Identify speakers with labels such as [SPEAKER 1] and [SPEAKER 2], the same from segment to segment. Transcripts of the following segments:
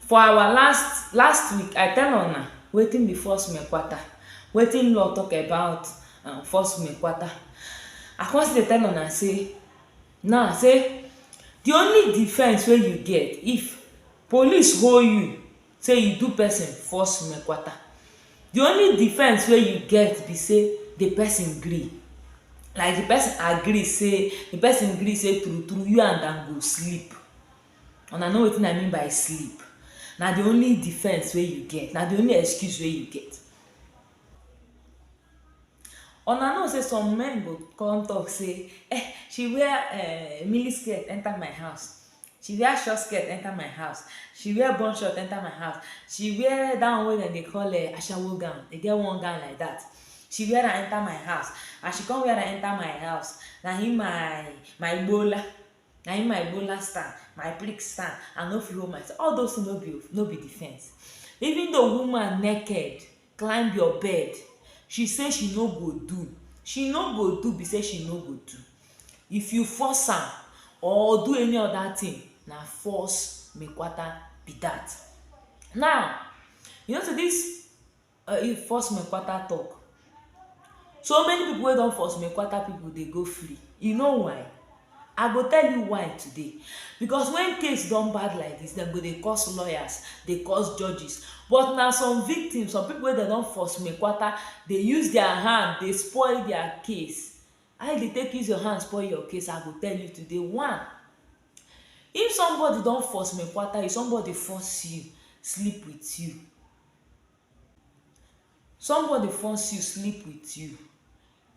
[SPEAKER 1] For our last last week I tell una wetin be false mekwata wetin law talk about um false mekwata I come still dey tell una say now say the only defense wey you get if police hold you say you do person false mekwata the only defense wey you get be say the person gree like the person agree say the person gree say true true you and am go sleep Una know wetin I mean by sleep. Na the only defense wey you get, na the only excuse wey you get. Una know sey some men go con talk sey um she wear um mini skirt enter my house, she wear short skirt enter my house, she wear bun short enter my house, she wear dat one wey dem dey call um ashawo gown, e get one gown like dat, she wear am enter my house. As she con wear am enter my house, na im my my igbola na im my Ebola stand, my prick stand, I no fit hold myself, all those things no be no be defense. Even though woman naked climb your bed, she say she no go do, she no go do be sey she no go do. If you force am or do any other thing, na force me kwata be dat. Now, you know sey dis um force me kwata talk so many people wey don force me kwata people dey go free you know why i go tell you why today because when case don bad like this dem go dey cause lawyers dey cause judges but na some victims some people wey dem don force me kwata dey use their hand dey spoil their case how you dey take use your hand spoil your case i go tell you today one if somebody don force me kwata you somebody force you sleep with you Somebody force you sleep with you,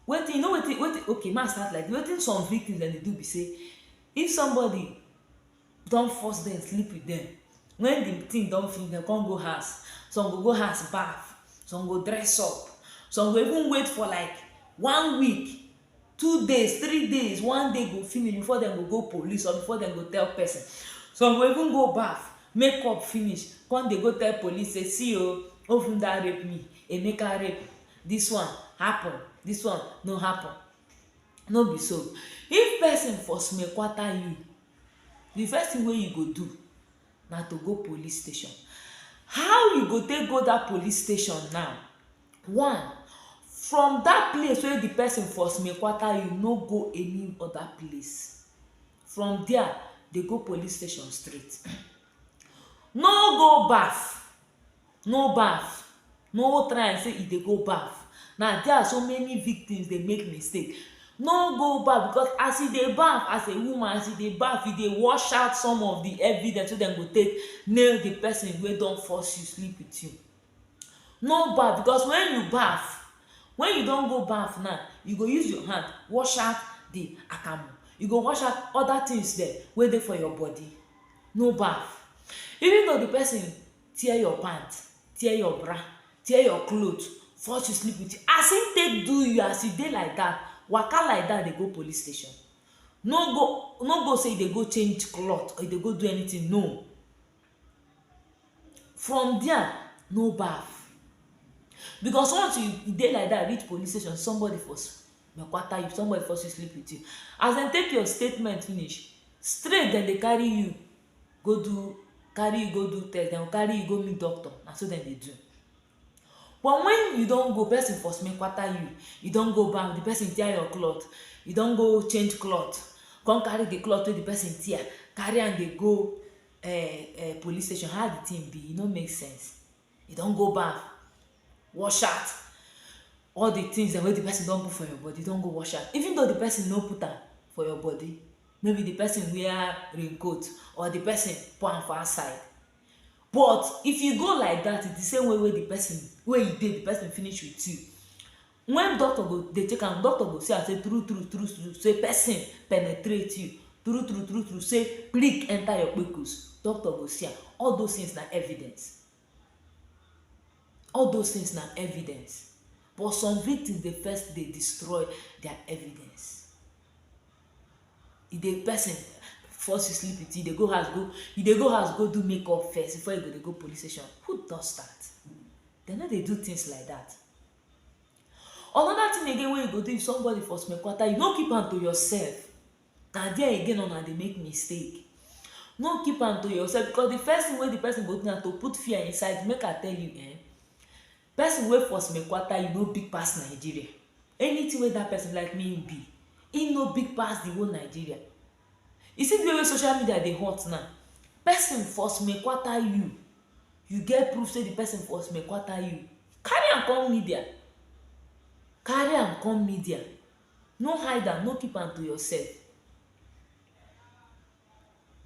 [SPEAKER 1] wetin you know wetin wetin okay make I start like dis, wetin some victims dem dey do be sey if somebody don force dem sleep with dem wen de thing don finish dem come go house, some go go house baff, some go dress up, some go even wait for like one week two days, three days, one day go finish before dem go go police or before dem go tell person some go even go baff make up finish come dey go tell police say see o Ovunda rape me Emeka rape me this one happen this one no happen no be so if person for small kwata you the first thing wey you go do na to go police station how you go take go that police station now one from that place wey the person for small kwata you no go any other place from there dey go police station straight no go baff no baff no try am sey you dey go baff na there so many victims dey make mistake no go baff because as you dey baff as a woman as you dey baff you dey wash out some of the evidence wey dem go take nail the person wey don force you sleep with you No baff because when you baff, when you don go baff now, you go use your hand wash out the akamu. You go wash out other things dem wey dey for your body. No baff. Even though the person tear your pant, tear your bra, tear your cloth, force you sleep with, as im take do you, as you dey like dat, waka like dat dey go police station. No go no go say you dey go change cloth or you dey go do anything, no. From dia, no baff because once you e dey like dat reach police station somebody for kwata you, somebody for still sleep wit you. As dem take your statement finish, straight dem dey carry you go do carry you go do test, dem go carry you go meet doctor, na so dem dey do. But wen you don go, person for smell kwata you, you don go baff, de person tear your cloth, you don go change cloth, come carry de cloth wey de person tear carry am dey go um um police station how the thing be e no make sense you don go baff wash out all the things dem wey the person don put for your body don go wash out even though the person no put am for your body maybe the person wear rain coat or the person put am for outside but if you go like that the same way wey the person wey you dey the person finish with you When doctor go dey check am, doctor go see am say true true true true say person penetrate you, true true true true say prick enter your kpekus, doctor go see am. All those things na evidence. All those things na evidence. But some victims dey first dey destroy their evidence. E dey person fall si sleep with you, dey go house go e dey go house go do makeup first before e go dey go police station. Who does that? Dem no dey do things like that. Another thing again wey you go do if somebody for small kwata, you no keep am to yourself. Na there again una dey make mistake. No keep am to yourself because the first thing wey the person go do na to put fear inside you. Make I tell you um person wey for small kwata, e no big pass Nigeria. Anything wey dat person like, make im be. Im no big pass the whole Nigeria. You see di way wey social media dey hot now, pesin for small kwata you, you get proof sey di pesin for small kwata you, carry am come media, carry am come media, no hide am, no keep am to yourself,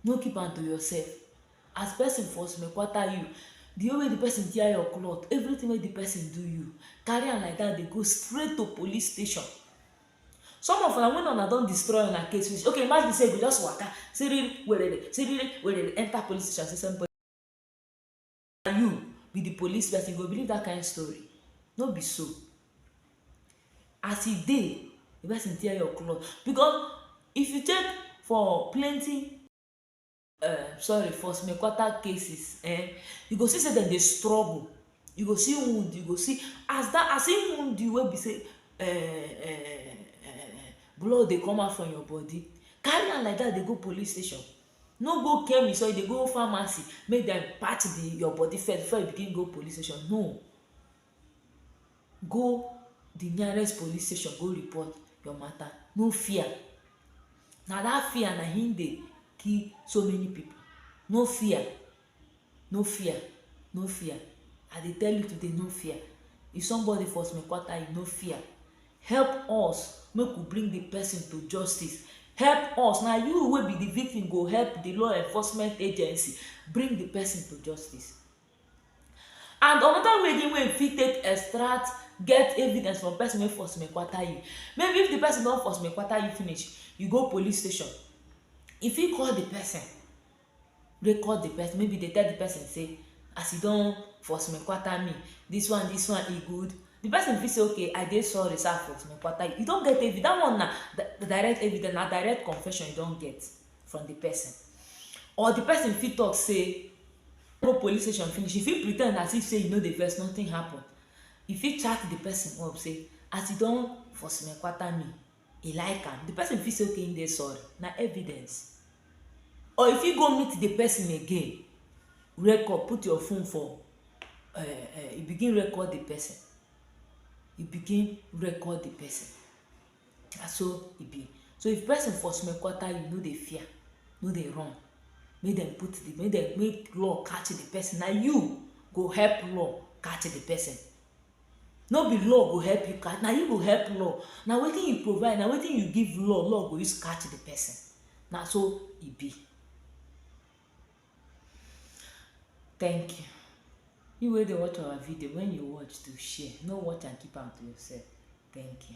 [SPEAKER 1] no keep am to yourself. As pesin for small kwata you, di way wey di pesin tear your cloth, everytin wey di pesin do you, carry am like dat dey go straight to police station. Some of una wen una don destroy una case finish, okay imagine sey you go just waka siriri werere siriri werere enter police station sey somebody na you be the police person, you go believe that kind story? No be so. As e dey, the person tear your cloth because if you check for plenty um sorry for some important cases um you go see sey dem dey struggle you go see wound you go see as dat as him wound you wey be sey um blood dey come out from your body carry am like dat dey go police station no go chemist or you dey go pharmacy make dem patch the your body first before you begin go police station no go the nearest police station go report your matter no fear na that fear na him dey kill so many people no fear no fear no fear i dey tell you today no fear if somebody for small quarter you no fear help us make we bring the person to justice help us na you wey be the victim go help the law enforcement agency bring the person to justice And another way again wey you fit take extract get evidence from person wey force me kwata you maybe if the person don force me kwata you finish you go police station you fit call the person record the person maybe dey tell the person sey as you don force me kwata me this one this one e good the person fit sey okay i dey sorry sey i force me kwata you, you don get evidence that one na direct evidence na direct confession you don get from the person or the person fit talk sey go police station finish, you fit pretend as if sey you no dey vex, nothing happen. You fit chat de person up sey, as you don for smekwata me, e like am. De person fit say okay im dey sorry, na evidence. Or you fit go meet de person again, record, put your phone for um um you begin record de person, you begin record de person. na so e be so if person for smell kwata you no dey fear no dey run make dem put the make dem make law catch the person na you go help law catch the person no be law go help you catch na you go help law na wetin you provide na wetin you give law law go use catch the person na so e be thank you you wey dey watch our video when you watch do share no watch and keep am to yourself thank you